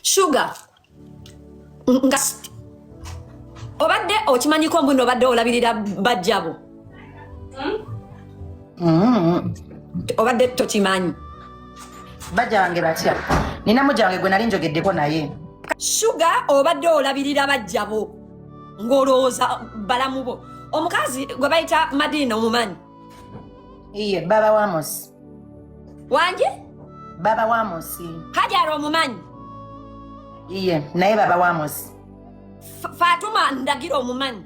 shuga nga obadde okimanyiko mbuno obadde olabirira bajjabo mm-hmm. obadde tokimanyi bajja bange batya nina mujange gwe nali njogeddeko naye shuga obadde olabirira bajjabo ng'olowooza balamu bo omukazi gwe bayita madiina omumanyi iye baba wamosi wangi baba wamosi hajara omumanyi iye naye baba wamosi fatuma ndagira omumanyi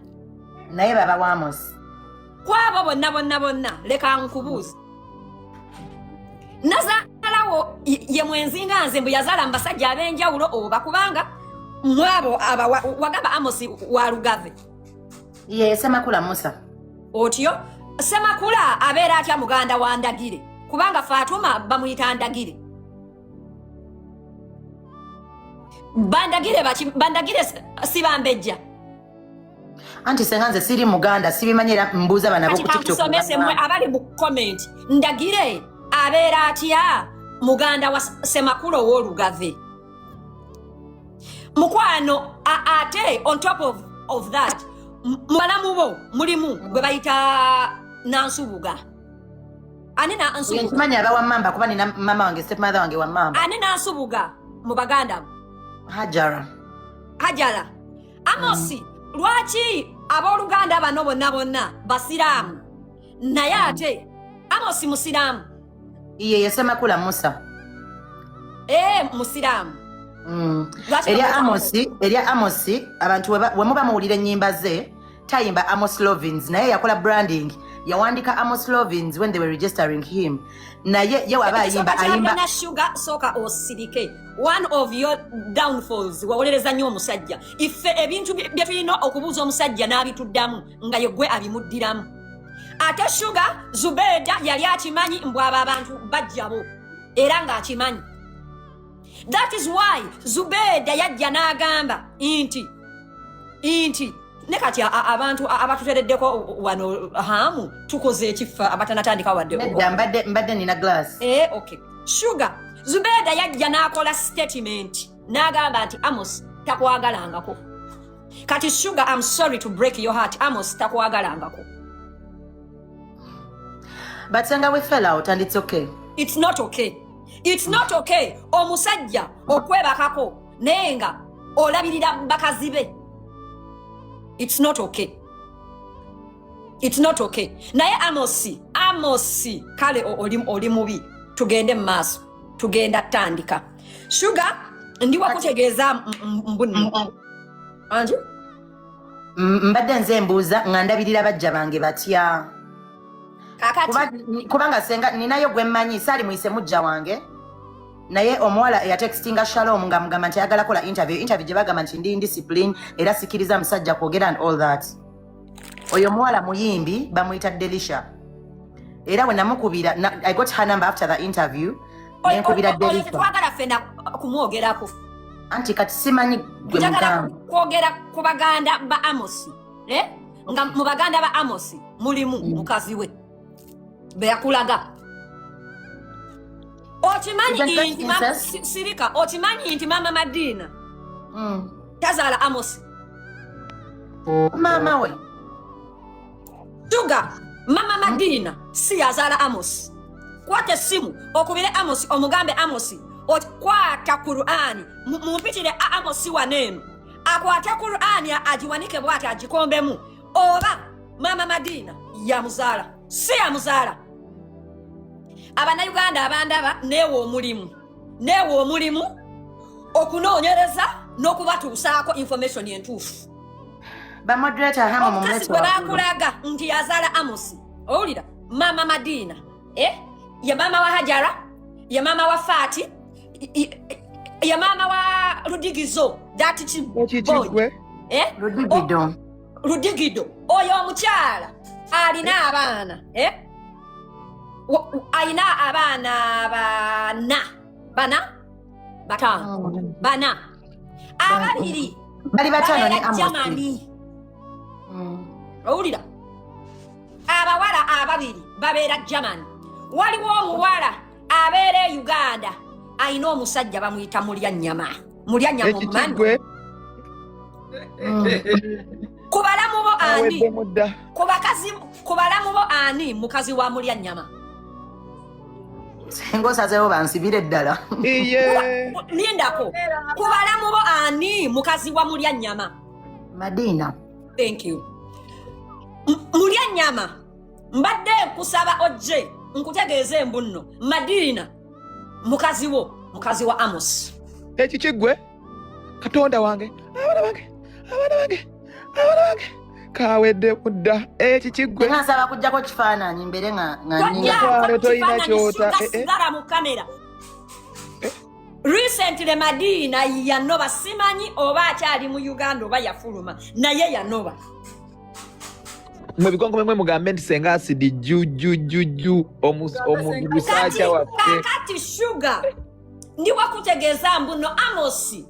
naye baba wamosi kwabo bonna bonna bonna leka nkubuuza nazalawo ye mwenzi nga nze mbu yazala mubasajja abenjawulo oba kubanga mwabo wagamba amosi walugave ye semakula musa otyo semakula abeera atya muganda wa ndagire kubanga fatuma bamuyita ndagire bandagire baki bandagire sibambejja anti senga nze siri muganda sibimanyi era mbuuza bana bokutiktokusomese mwe abali mu comment ndagire abeera atya muganda wa semakula ow'olugave mukwano ate on top of, of that mubalamu bo mulimu gwe bayita nansubuga ani nansubugamanyi aba wamamba kuba nina mama wange stepmother wange wamamba ani nansubuga mu baganda hajara hajara amosi mm. lwaki abooluganda bano bonna bonna basiraamu naye ate amosi musiraamu iye yesema kula musa eh musiramu mm. erya amosi erya amosi abantu wemuba muwulira ennyimba ze tayimba amos lovins naye yakola branding yawandika amos lovins when they were registering him naye ye waba ayimba ayimba sugar soka osirike one of your downfalls wawolereza nnyo omusajja ife ebintu byetulina okubuuza omusajja n'abituddamu nga yegwe abimuddiramu ate shuga zubeeda yali akimanyi mbu abo abantu bajjabo era ng'akimanyi that is why zubeeda yajja n'agamba nti nti ne kati abantu abatutereddeko wano hamu tukoze ekiffa abatanatandika wadde mbadde nina glass eh, okay shuga zubeeda yajja n'akola statement n'agamba nti amos takwagalangako kati sugar am sorry to break your heart amos takwagalangako but senga we fell out and it's okay it's not okay it's not okay omusajja okwebakako naye nga olabirira bakazi be it's not okay it's not okay naye amosi amosi kale oli mubi tugende mu maaso tugenda tandika shuga ndi wakutegeeza mbunno anti mbadde nze mbuuza nga ndabirira bajja bange batya kubanga senga ninayo gwe mmanyi saali muyise mujja wange naye omuwala eyatextinga shalom nga mugamba nti ayagala kola interview interview gye bagamba nti ndi indiscipline era sikiriza musajja kwogera and all that oyo muwala muyimbi bamuyita delisha era we namukubira i got her number after the interview nenkubira delisha twagala fena kumwogerako anti kati simanyi gwe mugamba kwogera ku baganda ba amosi eh? nga mu baganda ba amosi mulimu mukazi we beyakulaga okimanyi nti sirika okimanyi nti maama madiina mm. tazaala amosi maama we tuga maama madiina si yazaala amosi kwata essimu okubire amosi omugambe amosi okwata kurani mumpitire amosi waneeno akwate kurani agiwanike bwati agikombemu oba maama madiina yamuzaala si yamuzaala abanauganda abandaba neewa omulimu neewa omulimu okunoonyereza n'okubatuusaako information entuufu omukazi gwe bakulaga nti yazaala amosi owulira maama madiina eh? ye maama wa hajara ye maama wa faati ya maama wa ludigizo dati kibwe eh? ludigido oyo omukyala alina abaana eh? alina abaana bana bana batano oh, bana ababiri bali batano ne amani mm. owulira abawala ababiri babeera germany waliwo omuwala abeera e uganda alina omusajja bamuyita mulya nyama mulya nyama omumani ku balamu bo ani ku bakazi ku balamu bo ani mukazi wa mulya nyama singa osazeewo bansibire ddala lindako ku balamu bo ani mukazi wa mulya nyama madina thank you mulya nyama mbadde nkusaba ojje nkutegeeza embunno madiina mukazi wo mukazi wa amosi ekikiggwe katonda wange abaana bange abaana bange abaana bange kawedde kudda ekikiggwe nasaba kujjako kifaananyi mbere ngaaae tolina kyota eh, eh. sigala mu kamera eh. recently madiina yanoba simanyi oba akyali mu uganda oba yafuluma naye yanoba mwe bikonko mwe mugambe nti senga asidi jujujujju omusajja waffe kakati shuga ndi wakutegeeza mbuno amosi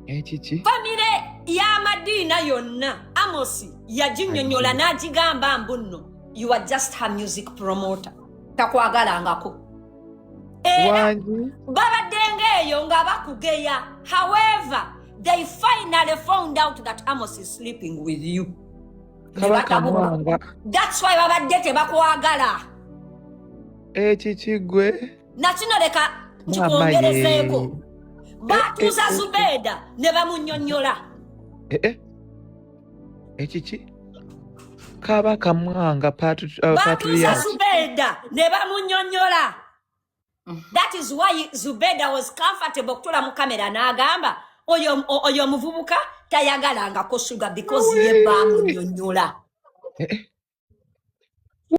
ekiki eh, famire y'amadiina yonna amosi yaginyonyola n'agigamba mbuno you are just her music promoter takwagalangako era babaddenga eyo nga bakugeya however they finally found out that amos is sleeping with you that's why babadde tebakwagala ekikigwe eh, nakino leka nkikwongerezeeko eh, eh, batuuza zubeeda ne bamunyonyola ekiki kaba kamwanga batuusa zubeda ne bamunyonyola that is why zubeda was comfortable okutula mu kamera n'agamba oyo omuvubuka tayagalangako suga because ye bamunyonyola eh, eh.